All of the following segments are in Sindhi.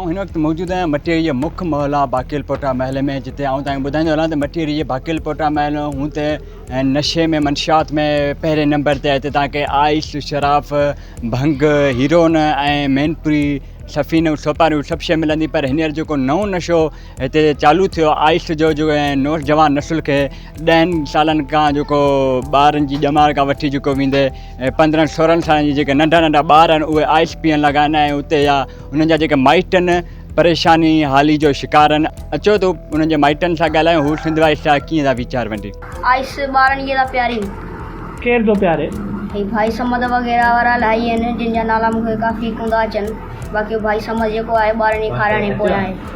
آئون هن وقت موجود آهيان مٽيري جي مک محلا باقيل پوٽا محل ۾ جتي آئون تائين ٻڌائيندو هلان ته مٽيري جي باقيل پوٽا محل هون ته نشي ۾ منشيات ۾ پهرين نمبر تي هتي تاڪي آئس شراف ڀنگ هيرون ۽ مينپوري سفينو سوپاريون سڀ شيء ملندي پر هينئر جيڪو نئون نشو هتي چالو ٿيو آئس جو جو ۽ نوجوان نسل کي ڏهن سالن کان جيڪو ٻارن جي ڄمار کان وٺي جيڪو ويندي ۽ پندرهن سورهن سالن جي جيڪي ننڍا ننڍا ٻار آهن اهي آئس پيئن لڳا آهن ۽ اتي يا انهن جا جيڪي مائٽ آهن پريشاني حالي جو شڪار آهن اچو ته انهن جي مائٽن سان ڳالهايون هو سنڌ وائس سان ڪيئن ٿا ويچار ونڊين. آئس ٻارن کي ٿا پيارين. ڪير ٿو پياري؟ هي ڀائي صمد وغيره وارا الاهي آهن جن جا نالا مون کي ڪافي ڪوندا اچن باقي ڀائي صمد جيڪو آهي ٻارن کي کارائڻ جي پويان آهي.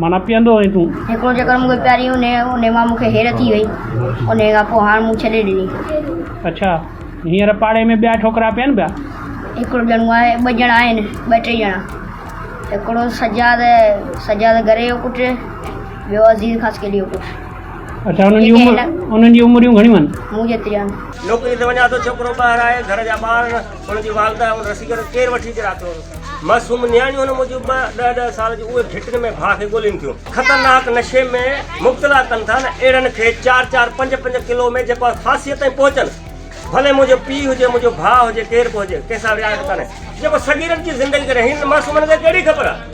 معنيٰ پيئندو آهين تون. هڪڙو چڪر مون کي پياري انهي انهي مان مون کي هير ٿي وئي انهي کان پوء هاڻ مون ڇڏي ڏني. اڇا هينئر پاڙي ۾ ٻيا ڇوڪرا پين پيا. هڪڙو ڄڻو آهي ٻه ڄڻا آهن ٻه ٽي ڄڻا هڪڙو سجاد سجاد گري جو پٽ ٻيو عزيز خاصخيلي جو پٽ. اڇا انهن جي عمر انهن جي عمريون گهڻيون آهن. مون جيتريون آهن. نوڪري تي وڃان ٿو ڇوڪرو ٻاهر آهي گهر جا ٻار نه. هن جي والده هن رسي کي ڪير وٺي اچي راتيو هوس. معصوم نياڻيون هن موجب ٻه ڏهه ڏهه سال جون اهي گهٽين ۾ ڀاء کي ڳولين ٿيون. خطرناڪ نشي ۾ مبتلا ڪن ٿا نه اهڙن کي چار چار پنج پنج ڪلو ۾ جيڪو آهي ڦاسيء تائين پهچن. ڀلي منهنجو پيء هجي منهنجو ڀاء هجي ڪير به هجي ڪنهن سان رعايت ڪانهي. جيڪو صغيرن جي زندگي ڪري هنن معصومن کي ڪهڙي خبر آهي.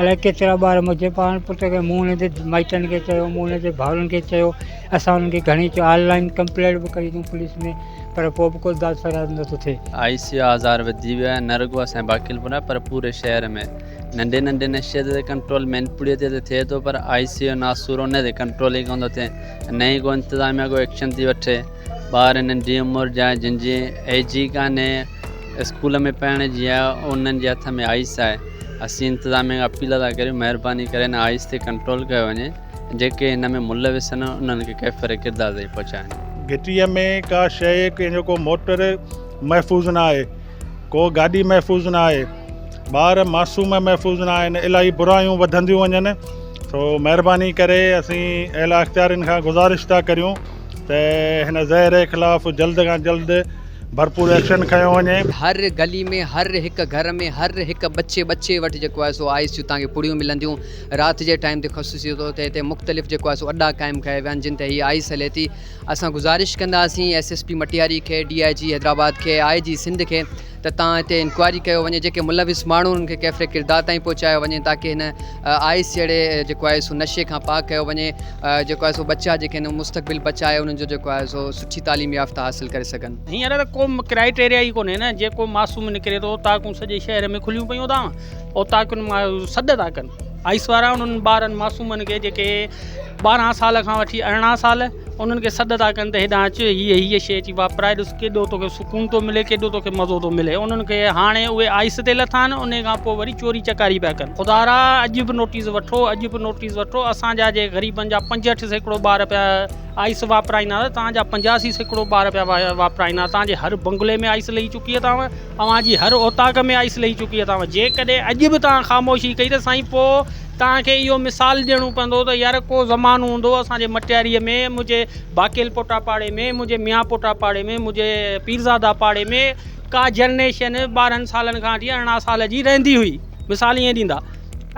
الاء ڪيترا ٻار منهنجي پاڻ پٽ کي مون هن جي مائٽن کي چيو مون هن جي ڀائرن کي چيو اسان انهن کي گهڻي چيو آن لائن ڪمپلينٽ به ڪئي اٿئون پوليس ۾ پر پوء به ڪو داد فریاد نٿو ٿئي آء سي يو آزار وڌي ويو آهي نه رڳو اسان جي باقي الپور ۾ پر پوري شهر ۾ ننڍي ننڍي نشي تي ڪنٽرول مين پوري تي ته ٿئي ٿو پر آء سي يو ناسور ان تي ڪنٽرول ئي ڪونه ٿو ٿئي نه ئي ڪو انتظاميا ڪو ايڪشن ٿي وٺي ٻار ننڍي عمر جا جن جي ايج ئي ڪانهي اسڪول ۾ پڙهڻ جي آ انهن جي هٿ ۾ آئس آهي اسين انتظاميه کي اپيل ٿا ڪريون مهرباني ڪري هن آئس تي ڪنٽرول ڪيو وڃي جيڪي هن ۾ ملوث آهن انهن کي ڪيفر ڪردار تائين پهچايون. گهٽيء ۾ ڪا شيء ڪنهن جو ڪو موٽر محفوظ نه آهي ڪو گاڏي محفوظ نه آهي ٻار معصوم محفوظ نه آهن الاهي برايون وڌنديون وڃن سو مهرباني ڪري اسين اعليٰ اختيارين کان گذارش ٿا ڪريون ته هن زهر خلاف جلد کان جلد ڀرپور ايڪشن کنيو وڃي. هر گلي ۾ هر هڪ گهر ۾ هر هڪ ٻچي ٻچي وٽ جيڪو آهي سو آئس جون تهان کي پڙيون ملنديون رات جي ٽائيم تي خصوصي طور تي هتي مختلف جيڪو آهي سو اڏا قائم ڪيا ويا آهن جن تي هي آئس هلي ٿي اسان گذارش ڪنداسين ايس ايس پي مٽياري کي ڊي آئي جي حيدرآباد کي آئي جي سنڌ کي ته تان هتي انڪوائري ڪيو وڃي جيڪي ملوث ماڻهو انهن کي ڪيفر ڪردار تائين پهچايو وڃي تاڪي هن آئس جهڙي جيڪو آهي سو نشي کان پاڪ ڪيو وڃي جيڪو آهي سو ٻچا جيڪي آهن مستقبل بچائي انهن جو جيڪو آهي سو سٺي تعليم يافته حاصل ڪري سگهن. هينئر ته ڪو ڪرائيٽيريا ئي ڪونهي نه جيڪو معصوم نڪري ٿو اوطاقون سڄي شهر ۾ کليون پيون اٿام اوطاقن مان سڏ ٿا ڪن. آئس وارا انهن ٻارن معصومن کي جيڪي ٻارهن سال کان وٺي ارڙهن سال انهن کي سڏ ٿا ڪن ته هيڏانهن اچ هيء هيء شيء اچي واپرائي ڏس ڪيڏو توکي سڪون ٿو ملي ڪيڏو توکي مزو ٿو ملي انهن کي هاڻي اهي آئس تي لٿا آهن انهيء کان پوء وري چوري چڪاري پيا ڪن خدا را اڄ به نوٽيس وٺو اڄ به نوٽيس وٺو اسان جا جي غريبن جا پنجهٺ سيڪڙو ٻار پيا آئس واپرائيندا ته توهان جا پنجاسي سيڪڙو ٻار پيا واپرائيندا توهان جي هر بنگلي ۾ آئس لهي چڪي اٿاوه اوهان جي هر اوطاق ۾ آئس لهي چڪي اٿاو جيڪڏهن اڄ به توهان خاموشي ڪئي ته سائين پوء توهان کي اهو مثال ڏيڻو پوندو ته يار ڪو زمانو هوندو هو اسان جي مٽياريء ۾ منهنجي باقيل پوٽا پاڙي ۾ منهنجي ميان پوٽا پاڙي ۾ منهنجي پيرزادا پاڙي ۾ ڪا جنريشن ٻارهن سالن کان وٺي ارڙهن سال جي رهندي هئي مثال ائين ڏيندا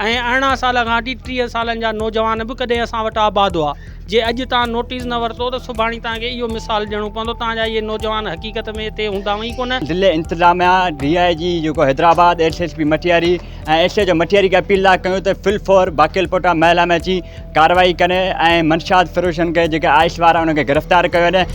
۽ ارڙهن سال کان وٺي ٽيهه سالن جا نوجوان به ڪڏهن اسان وٽ آباد هئا. جي اڄ توهان نوٽيس نه ورتو ته سڀاڻي توهان کي اهو مثال ڏيڻو پوندو توهان جا اهي نوجوان حقيقت ۾ اتي هوندا ئي ڪونه. ضلعي انتظاميا، ڊي آء جي جيڪو Hyderabad, S S P Matiari ۽ S H O Matiari کي اپيل لاء ڪيون ته فل فور باقيل پوٽا محلا ۾ اچي ڪارروائي ڪن ۽ منشيات فروشن کي جيڪي آئس وارا انهن کي گرفتار ڪيو وڃي.